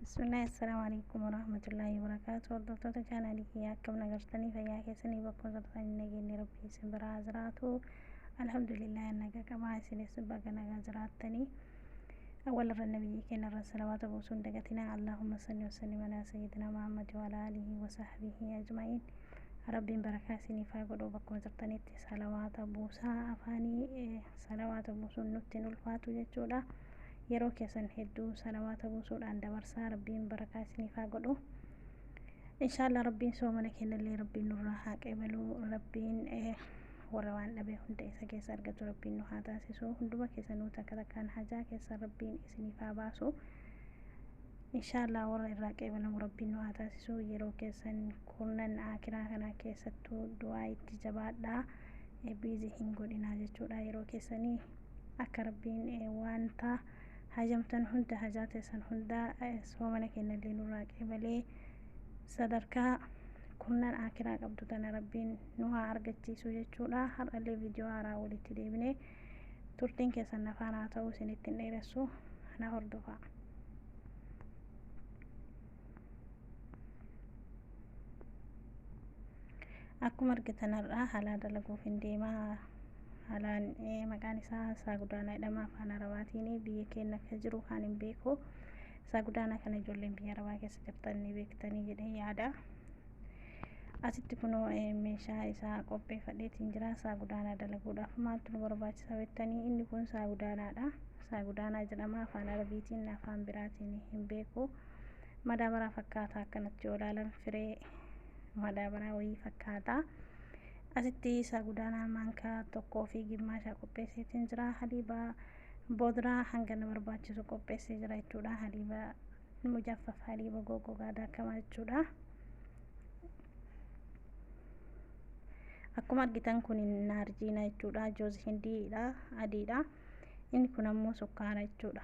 Bismillah assalamu alaikum warahmatullahi wabarakatuh hordoftoota chaanaalii kiyyaa akkam nagartanii fayyaa keessanii bakkuma jirtan hin nageenye rabbii isin biraa haa jiraatu alhamdulillah naga qabaa isinis baga nagaa jiraattanii awwal irra nabiyyii keenya irra salawaata buusuu hin dagatinaa allahumma salli wasallim alaa sayyidina muhammad wa alaa alihi wa sahbihi ajma'iin rabbiin barakaa isiniif haa godhu bakkuma jirtanitti salawaata buusaa afaanii salawaata buusuun nutti hin ulfaatu jechuudha yeroo keessan hedduu salawaata buusuudhaan dabarsaa rabbiin barakaa isiniif haa godhu inshaallah rabbiin soomana kennallee rabbiin nurraa haa qeebalu rabbiin eh, warra waan dhabee hunda isa keessa argatu rabbiin nu haa taasisu hunduma keessanuu takka takkaan hajaa keessa rabbiin isiniif haa baasu inshaallah warra irraa qeebalamu rabbiin nu haa taasisu yeroo keessan kurnan akiraa kana keessattuu du'aa itti jabaadhaa eh, biizi hin godhinaa jechuudha yeroo keessanii Akka Rabbiin wanta hajamtan hunda, hajaa teessan hunda soomana kennallee nurraa qeebalee sadarkaa kumnan aakiraa qabdu tana Rabbiin nu haa argachiisu jechuudha. Har'allee viidiyoo haaraa walitti deebine turtiin keessan na faana haa ta'u isinitti hin dheeressu na hordofaa. akkuma argitan har'aa halaa dalaguuf hin deemaa halaan maqaan isaa isaa gudaanaa jedhama afaan arabaatiin biyya keenya akka jiru kan hin beeku isaa gudaanaa kana ijoolleen biyya arabaa keessa jirtan ni beektanii jedhee yaada asitti kunoo meeshaa isaa qopheeffadheetiin jira isaa gudaanaa dalaguudhaaf maaltu nu barbaachisa beektanii inni kun isaa gudaanaadha isaa gudaanaa jedhama afaan arabiitiin afaan biraatiin hin beeku madaabaraa fakkaata akkanatti yoo ilaalan firee madaabaraa wayii fakkaata asitti isaa gudaanaa maankaa tokkoo fi gimmaashaa qopheesseetiin jira haliiba boodraa hanga na barbaachisu qopheessee jira jechuudha haliiba mujaffaf haliiba goggogaa daakamaa jechuudha akkuma argitan kun naarjiina jechuudha joozi hindiidha adiidha inni kun ammoo sukkaara jechuudha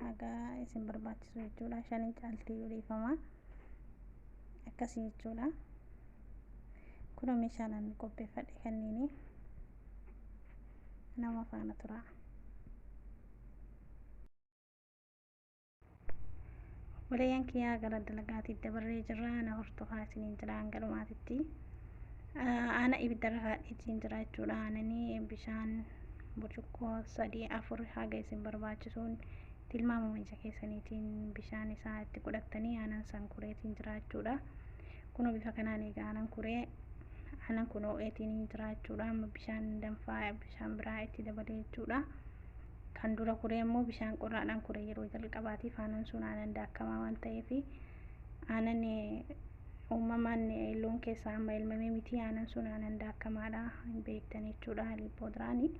haga isin barbaachisu jechuudha shanii caaltii yoo dhiifama akkasii jechuudha kunoo meeshaan ani qopheeffadhe kanniini nama faana tura obboleeyyan kiyyaa gara dalagaatiif dabarree jirra na hordofaa isiniin jira hanga dhumaatitti aana ibiddarra kaadheetiin jira jechuudha aananii bishaan burcuqqoo sadii afur haga isin barbaachisuun tilmaamuma ija keessaniitiin bishaan isaa itti godhattanii aanan san kureetiin jiraachuudha. Kunoo bifa kanaan egaa aanan kuree aanan kun oo'eetiin jiraachuudha. Amma bishaan danfaa bishaan biraa itti dabalee jechuudha. Kan dura kuree immoo bishaan qorraadhaan kuree yeroo jalqabaatiif aanan sun aanan daakamaa waan ta'eef aanan uumamaan loon keessaa amma elmamee miti aanan sun aanan daakkamaadha hin beektan jechuudha lippoodraanii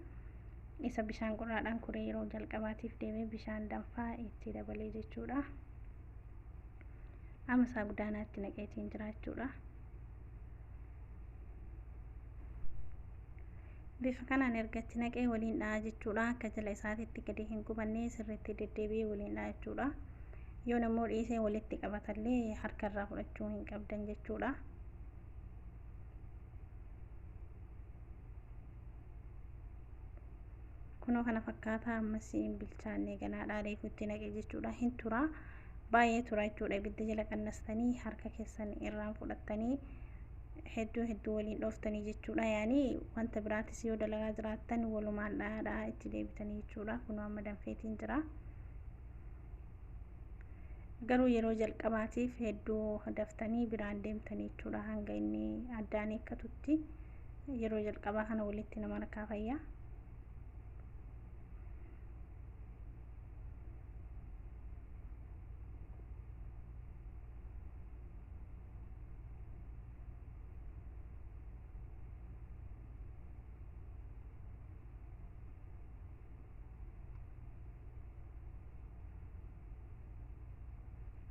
isa bishaan qorraadhaan kuree yeroo jalqabaatiif deemee bishaan danfaa itti dabalee jechuudha amma isaa gudaanaatti naqeetiin jiraachuudha Bifa kanaan erga itti naqee waliin dha'a jechuudha. Akka jala isaatitti gadi hin gubannee sirriitti deddeebi'ee waliin dha'a jechuudha. Yoon ammoo dhiisee walitti qabatallee harka irraa fudhachuu hin qabdan jechuudha. Kunoo kana fakkaataa ammas hin bilchaannee ganaadhaa reefu itti naqe jechuudha. Hin tura. Baay'ee tura jechuudha. Ibidda jala qannastanii harka keessan irraan fudhattanii hedduu hedduu waliin dhooftanii jechuudha. Yaani wanta biraatis yoo dalagaa jiraattan walumaan dhaadhaa itti deebitanii jechuudha. Kunoo amma danfeetiin jira. Garuu yeroo jalqabaatiif hedduu daftanii biraan deemtanii jechuudha hanga inni addaan eekkatutti yeroo jalqabaa kana walitti nama rakaa fayyaa.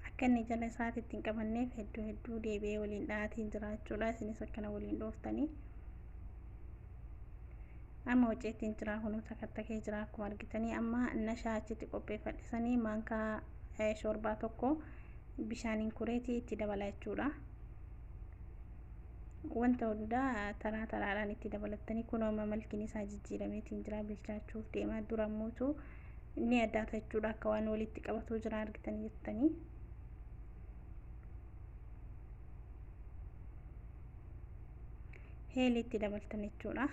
akka inni jala isaati ittiin qabanneef hedduu hedduu deebi'ee waliin dhahaatiin jiraachuudha isinis akkana waliin dhooftanii amma hojii ittiin jiraa kunuu takattakee jiraa akkuma argitanii amma nashaa achitti qopheeffadhisanii maankaa shoorbaa tokko bishaaniin kureetii itti dabala jechuudha. Wanta hundaa taraa taraadhaan itti dabalattanii kun amma malkiin isaa jijjiirameetiin jira bilchaachuuf deemaa dura mootu ni addaata jechuudha akka waan walitti qabatuu jira argitanii jettanii. Heelii itti dabaltan jechuudha.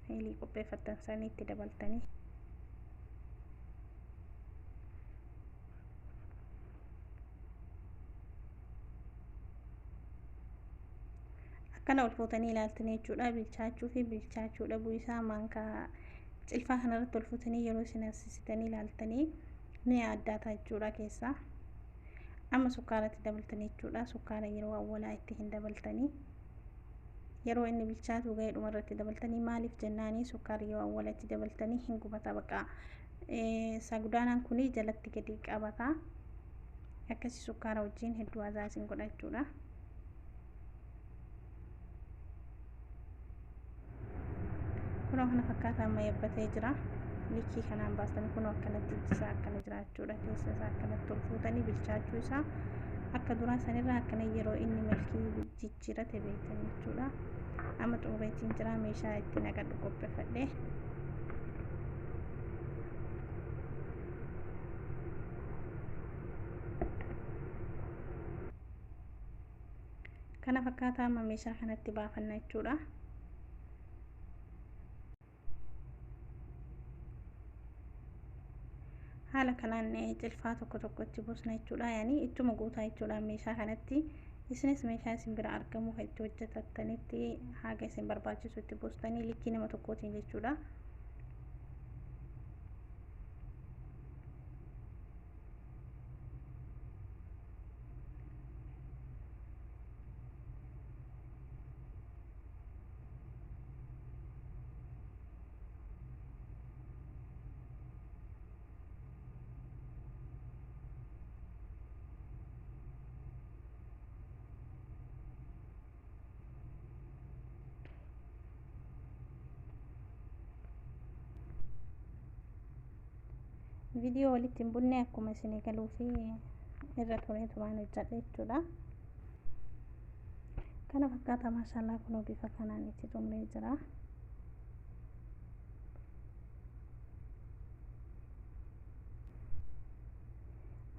Heelii qopheeffattan sana itti dabaltanii. akkana ol fuutanii ilaaltanii jechuudha bilchaachuu fi bilchaachuu dhabuu isaa maankaa cilfaa kanarratti ol fuutanii yeroo isin haasisitanii ilaaltanii ni addaataa jechuudha keessaa amma sukkaaratti dabaltanii jechuudha sukkaara yeroo awwalaa itti hin dabaltanii yeroo inni bilchaatu ga'ee dhumarratti dabaltanii maaliif jennaanii sukkaara yoo awwalatti dabaltanii hin gubataa baqa sagudaanaan kun jalatti gadi qabata akkasi sukkaara wajjiin hedduu azaa isin godhachuudha kunoo kana fakkaataa amma yabbatee jira likkii kanaan baastanii kunoo akkanatti ijjisaa akkana jiraachuudha keessa isaa akkanatti ol fuutanii bilchaachuu isaa akka duraa sanirraa akkana yeroo inni milkii jijjiirate beektan jechuudha amma xumureetiin jira meeshaa itti naqadhu qopheeffadhe kana fakkaataa amma meeshaa kanatti baafanna jechuudha haala kanaan cilfaa tokko tokko itti buusna jechuudha yaani ittuma guutaa jechuudha meeshaa kanatti isinis meeshaa isin bira argamu kan itti hojjetattanitti haga isin barbaachisu itti buustanii likkii nama tokkootiin jechuudha. viidiyoo walitti hin bunne akkuma isin eegaluu fi irra turee turaan hojjedha jechuudha. kana fakkaata maashaallah kunoo bifa kanaan itti xumuree jira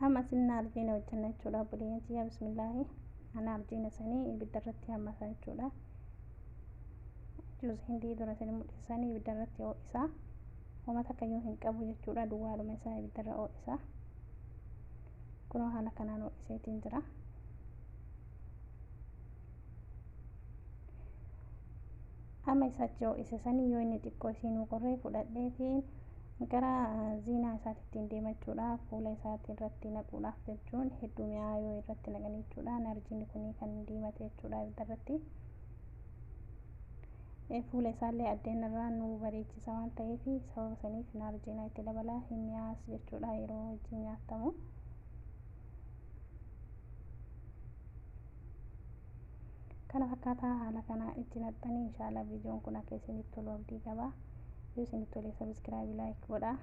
amma sinna arjiina hojjenna jechuudha buliyyeen tiyya bismillaahi ana arjiina sanii ibidda irratti hammata jechuudha juus hindii dura sanii mudhisanii ibidda irratti ho'isaa homa takkayyuu hin qabu jechuudha duwwaaluma isaa ibidda irra ho'isaa Kunoo haala kanaan ho'iseetiin jira. Amma isa achi ho'ise sanii yoo inni xiqqoo isiinuu qorree fudhadheetiin gara ziinaa isaatti ittiin deemachuudhaaf fuula isaatti irratti naquudhaaf jechuun hedduu mi'aa yoo irratti naqan jechuudha. Narjiin kun kan diimate jechuudha ibidda irratti. Fuula isaallee addeen irraa nu bareechisa waan ta'eef sababa saniif naarjiinaa itti dabalaa hin mi'aas jechuudha yeroo wajjin nyaattamu. Kana fakkaataa haala kana itti naqxanii inshaallah viidiyoon kun akka isinitti tolu abdii qaba. Yoo isinitti tole sabiskiraabii laayik godhaa.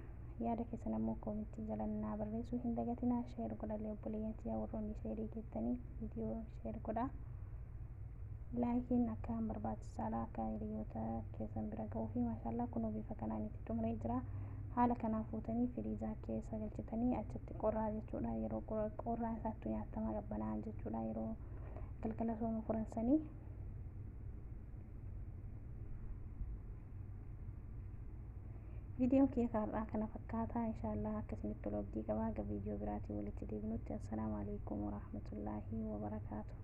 Yaada keessan ammoo koomentii jala naa barreessuu hin dagatinaa. Sheer godhallee obboleeyyan tiyyaa warroonni sheerii geettanii viidiyoo sheer godhaa. laayikiin akka barbaachisaadha akka hiriyoota keessan bira ga'uu fi maashaallah kunoo bifa kanaan itti xumuree jira haala kanaan fuutanii firiijaa keessa galchitanii achitti qorraa jechuudha yeroo qorraa isaattu nyaatamaa qabbanaa jechuudha yeroo galgala sooma furansanii viidiyoon kiyya kaarraa kana fakkaataa inshaallah akkasinitti tolu abdii qabaa ga viidiyoo biraatiin walitti deebinutti assalaamu alaikum warahmatullaahi wabarakaatu